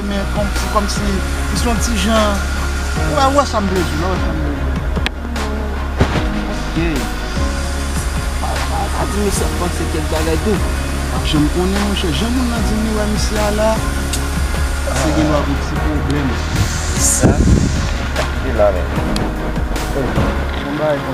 Men se kòm si li se yon ti jan ou wè ou wè sa m vle di w la ou wè sa m vle di w la ok pa di mesye ap panse kèk bagay tou l ap janm konnen monchè jan moun nan di m li wè mesye a la se gen dwa gen ti pwoblèm sa ki la menm oh bon bagay.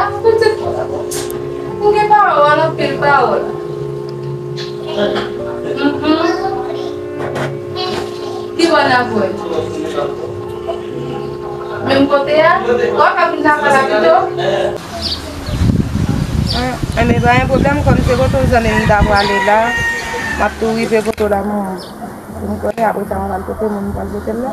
Ak pitit mwen anko. M gen pawòl, anpil pawòl. Ki bò n ap voye m? Menm kote a? Ou pa ka vin lakay la pito? Enben, pa gen pwoblèm, kòm se kote w zanmi m ta prale la, m ap tou rive kote w la menm. Pou m konnen, apresa mwen pral pote moun pou al pote l la.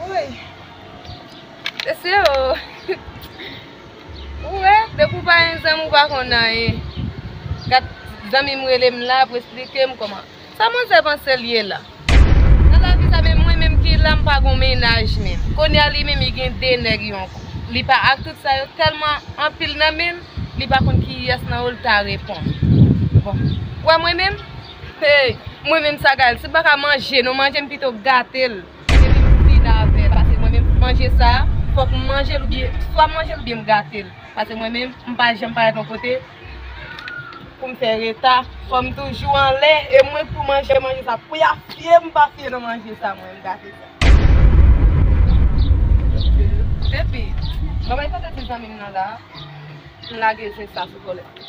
Wouyy Sese ooh Ou wè depi ou pa gen zanmi ou pa konn anyen Gat zanmi m rele m la pou esplike m kòman Sa manzè panse l ye la Nan lavi sa menm mwen menm ki la m pa gon mennaj menm Kounye a li menm li gen 2 nèg yon kou Li pa ak tout sa yo tèlman anpil nan men l Li pa konn kiyès nan yo l ta reponn Bon Ou wè mwen menm Hey mwen menm sagal si paka manje nou manje m pito gatel epi m fin avèl pase mwen menm manje sa fòk m manjel oubyen swa m manjel oubyen m gatel pase mwen menm m pa janm parèt yon kote poum fè reta fòm toujou anlè e mwen pou manje manje sa pou ya fye m pa fye nan manje sa mwen m gate sa. Epi mwen bay kote ti zanmi m nan la m lage zen sa sou kòlèt.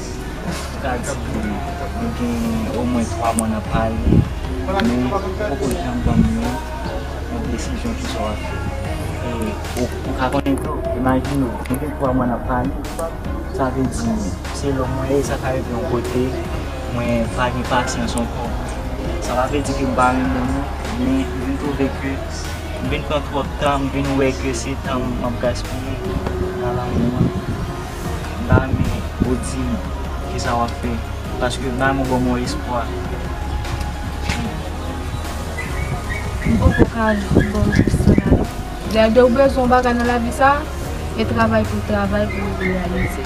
Sa di nou gen omwen 3 mwa nan pale, men poko janm ban nou yon desizyon ki sa w ap fè. E ou ka konnen tou, imajine w, nou gen 3 mwa nan pale, sa vle di selon mwen e sa ka rive yon kote mwen pa gen pasyans ankò. Sa pa vle di ke m pa renmen nou, men m vin twouve ke m vin pran twòp tan, m vin wè ke se tan m ap gaspiye nan lanmou an. M ta renmen ou di m kisa wap fè paske bay mwen bon bon espwa. M poko ka baw repons sa la non. Dèlè ou bezwen yon bagay nan lavi sa e travay pou travay pou reyalize.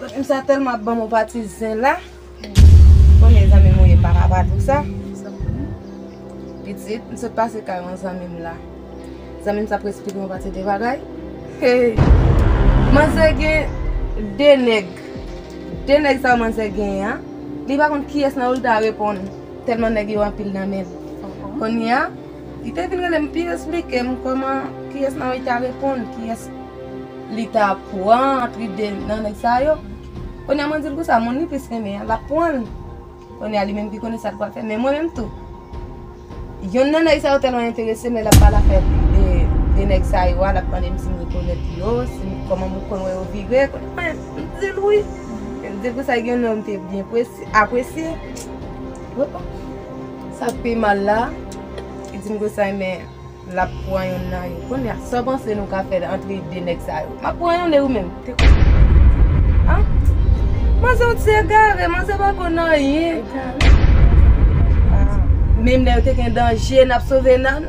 Machin sa telman ap banm yon pati zen la. Bon mezanmi mouye pa ka pa di sa. Pitit m sot pase kay yon zanmi m la. Zanmi m sa ap esplike yon pati de bagay. Manzè gen 2 nèg. 2 nèg sa yo manzè genyen an. Li pa konn kiyès nan yo li ta reponn. Telman nèg yo anpil nan men l. Kounya. Li te vin rele m pi esplike m kòman kiyès nan yo li ta reponn, kiyès li ta pran ant li de nan nèg sa yo. Kounye a mwen di l konsa, moun li plis renmen an, l ap pran l. Kounye a li menm ki konnen sa l pral fè. Men mwen menm tou, yonn nan nèg sa yo tèlman enterese m lè l ap pale afè de nèg sa yo a, l ap mande m si m rekonèt yo, si m, kòman m konn wè yo vire. Kounye a mwen di l wi. L di l konsa, gen yon nonm te byen apresye. Sak pi mal la, li dim konsay men lap pran yonn nan yo. Konnya sa w panse nou ka fè antre 2 nèg sa yo? Map pran yonn e ou menm? Te konn sa map di. Ah! Manzè on ti egare, manzè pa konn anyen. Egare? Ah! Menm lè yo te gen danje nap sove nan.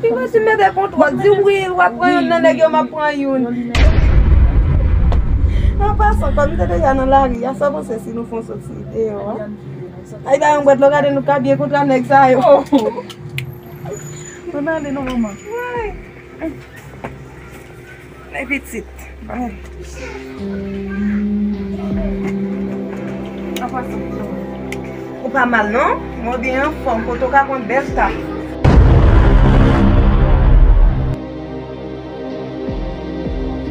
Ti mesye mete kontwòl di wi lwa pran youn nan nèg yo map pran youn. An pasan kòm nou te deja nan lari a sa w panse si nou fè yon sòti deyò a? Ay bay yon bwèt lò gade nou ka byen kontra nèg sa yo. Ann ale non manman. Mwen pitit. Ou pa mal non. Mwen byen anfom. Kote ou ka pran bel staf.